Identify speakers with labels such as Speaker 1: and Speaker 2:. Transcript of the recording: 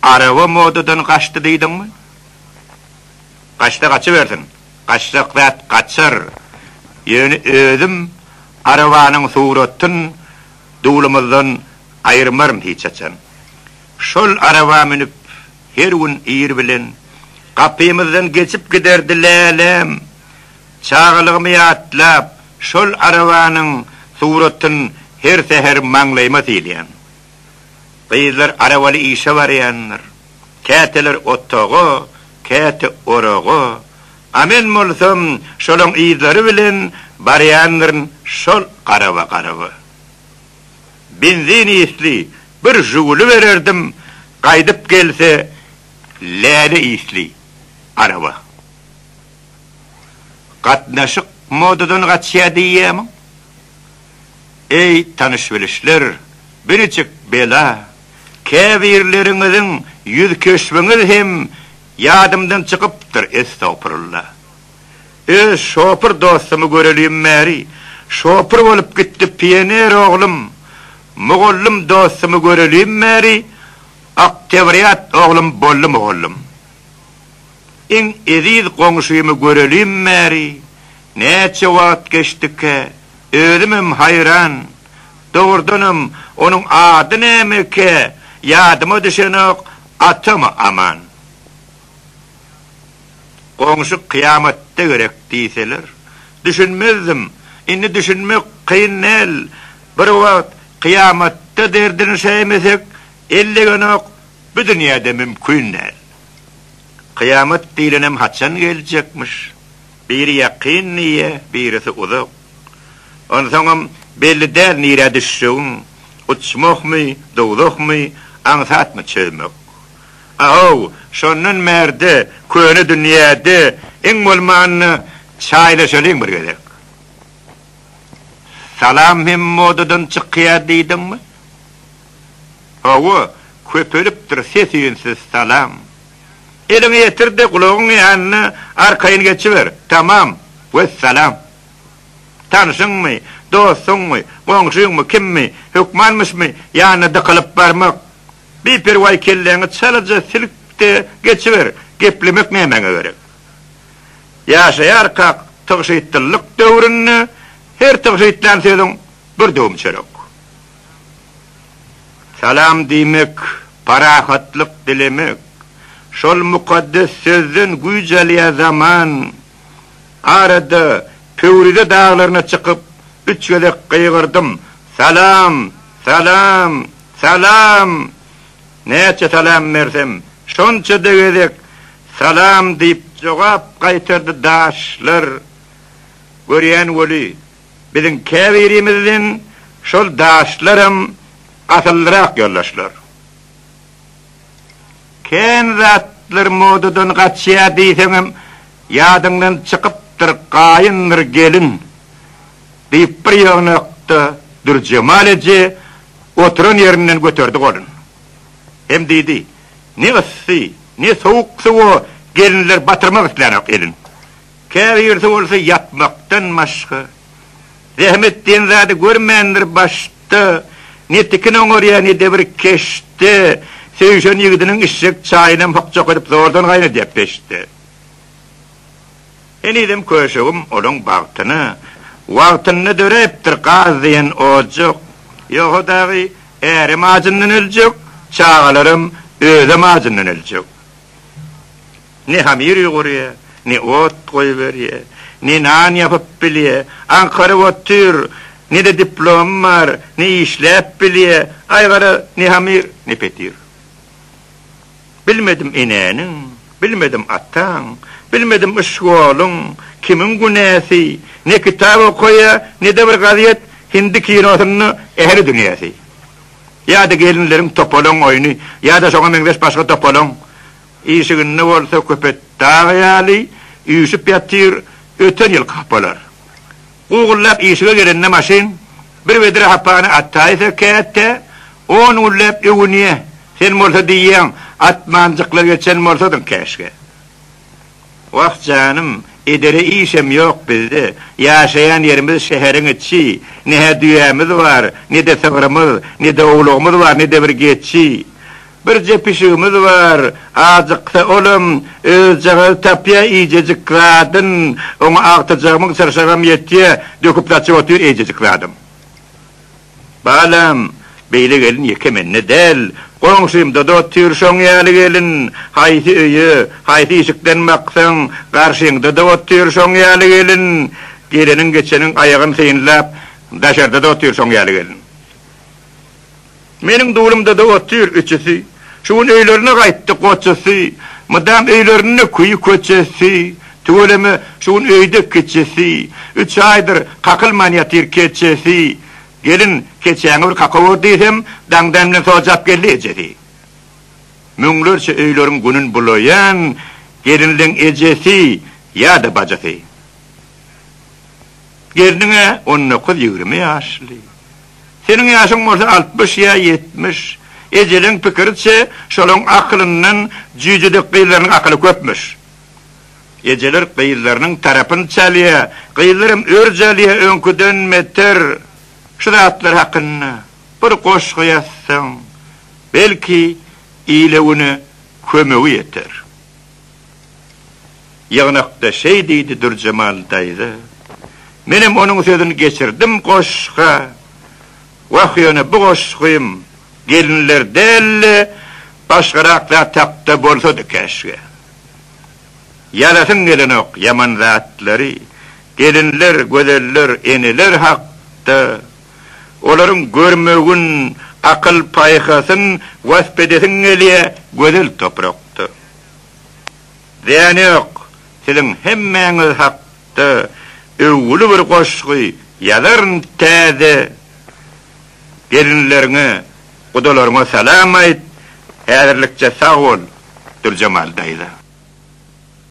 Speaker 1: Araba modadan gaçdy diýdiňmi? Gaçsa gaçybersin. Gaçjak zat gaçar. Ýöne özüm arabanyň suratyn duwlumyzdan aýyrmaryn hiç haçan. Şol araba münüp her gün ir bilen gapymyzdan geçip giderdi Läläm. Çagalygymy ýatlap, şol arabanyň suratyn her säher maňlaýyma sylaýan. Gyzlar arabaly işe barýandyr. Käteler otaga, käte oraga. A men bolsam şolaň yzlary bilen barýandyryn şol garaba-garaba. Benzin ysly bir Žuguli bererdim, gaýdyp gelse läle ysly araba. Gatnaşyk modadan gaçýar diýýärmiň? Eý, tanyş-bilişler, birjik bela, käbirleriňiziň ýüzkeşbiňiz hem ýadymdan çykypdyr, estagpurulla. Öz şopur dostumy görelim bäri, şopur bolup gitdi pioner oglum, mugallym dostumy görelim bäri, oktewrýat oglum boldy mugallym. Iň eziz goňşymy görelim bäri, Näçe wagt geçdikä, özümem haýran. Dogrudanam, onuň ady nämekä, ýadyma düşenok, atamy Aman. Goňşy kyýamatda gerek diýseler, düşünmezdim. Indi düşünmek kyn däl. Bir wagt kyýamatda derdini şäýmesek, ellegenok, bu dünýäde mümkin däl. Kyýamat diýlenem haçan geljekmiş? Biri ýakyn diýýä, birisi uzak. Onsoňam belli däl nirä düşjegiň, uçmakmy, dowzahmy, aňsatmy çözmek. A-how, şondan bärde köne dünýäde iň bolmanda çaýlaşalyň bir gezek. Salam hem modadan çykýar diýdiňmi? Hawa, köpelipdir ses-üýnsiz salam. Eliňi ýetir-de, gulagyň ýanyna arkaýyn geçiber. Tamam. Wessalam. Tanşyňmy, dostuňmy, goňşyňmy, kimmi, hökmanmyşmy, ýanyna dykylyp barmak. Biperwaý kelläňi çalaja silk-de geçiber. Geplemek nämäňe gerek? Ýaşaýarkak tygşytlylyk döwründe her tygşytlän sözüň bir döwüm çörek. Salam diýmek, parahatlyk dilemek. Şol mukaddes sözden güýç alýar zaman. Arada Pöwrize daglaryna çykyp, üç gezek gygyrdym, Salam! Salam! Salam! Näçe salam bersem, şonça-da gezek Salam diýip jogap gaýtardy daşlar. Görýän weli, Biziň käbirimiz bilen şol daşlaram asyllyrak ýoldaşlar. Kän zatlar modadan gaçýar diýseňem, ýadyňdan çykypdyr gaýyndyr gelin, diýip bir ýygnakda Dürjemal eje oturan ýerinden göterdi golun. Hem diýdi, Ne yssy, ne sowuk suwa gelinler batyrmak islänok elin. Käbir ýerde bolsa ýatmakdan başga zähmet diýen zady görmändir, başda ne tikin oňarýar, ne-de bir keşde söýşen ýigidiniň içjek çaýynam hokjak edip zordan gaýnadýar peçde. Henizem köşegim olaň bagtyna wagtynda döräpdir, gaz diýen ojak, ýogsa dagy ärem ajyndan öljek, çagalaram özem ajyndan öljek. Ne hamyr ýugurýa, ne ot goýberýä, ne nan ýapyp bilýä, aňkaryp otyr, ne-de diplomy bar, ne işläp bilýä, aý gara, ne hamyr, ne petir. Bilmedim enäniň, bilmedim ataň, bilmedim iş ýoluň, kimiň günäsi, ne kitap okaýa, ne-de bir gazet, hindi kinosynda ähli dünýäsi. Ýa-da gelinleriň topalaň oýny, ýa-da şoňa meňzeş başga topalaň. Işiginde bolsa köpet dagy ýaly üýşüp ýatyr, öten ýylky hapalar. Gugullap işige gelende maşyn, bir vedra hapany ataýsa käte, on günläp öwünýä, sen bolsa diýýäň, atmanjykla geçen bolsadyň käşgä. Wah janym, edere işem ýok bizde. Ýaşaýan ýerimiz şäheriň içi. Ne-hä düýämiz bar, ne-de sygrymyz, ne-de owlagymyz bar, ne-de bir geçi. Birje pişigimiz bar, ajyksa olam özjagazy tapýar iýjejik zadyn, oňa agtyjagymyň çyrşagam ýetýär, döküp-saçyp otyr eýjejik zadam. Balam, beýle gelin ýeke mende däl, goňşymda-da otyr şoň ýaly gelin. Haýsy öýe, haýsy işikden baksaň, garşyňda-da otyr şoň ýaly gelin. Geleniň-geçeniň aýagyn synlap, daşarda-da otyr şoň ýaly gelin. Meniň dulumda-da otyr üçüsi. Şu gün öýlerine gaýtdy goçasy, Mydam öýlerinde küýi köçesi, Tüweleme şu gün öýde kiçisi, Üç aýdyr kakylman ýatyr keçesi. Gelin, keçäňi bir kakawur diýsem, Daňdan bilen sojap geldi ejesi. Müňlerçe öýleriň günün bulaýan Gelinleň ejesi ýa-da bajysy. Gelniň-ä on dokuz-ýigrimi ýaşly. Seniň ýaşyň bolsa altmyş ýa ýetmiş. Ejeleň pikiriçe, şolaň akylyndan jüýjüdek gyzlarynyň akyly köpmüş. Ejeler gyzlarynyň tarapyny çalýa, gyzlaram örj alýa öňküden beter. Şu zatlar hakynda bir goşgy ýazsaň, belki, ile-güne kömegi ýeter. Ýygnakda şeý diýdi Dürjemal daýza. Menem onuň sözüni geçirdim goşga. Wah ýöne bu goşgym gelinler däl-de başgarak zat hakda bolsady käşgä. Ýazasyň gelenok ýaman zatlary, gelinler, gözeller, eneler hakda. Olaryň görmegin, akyl-paýhasyn wasp edesiň gelýä gözel toprakda. Däne ýok, siziň hemmäňiz hakda öwgüli bir goşgy ýazaryn täze gelinleriňe gudalaryňa salam aýt häzirlikçe sag bol Dürjemal daýza.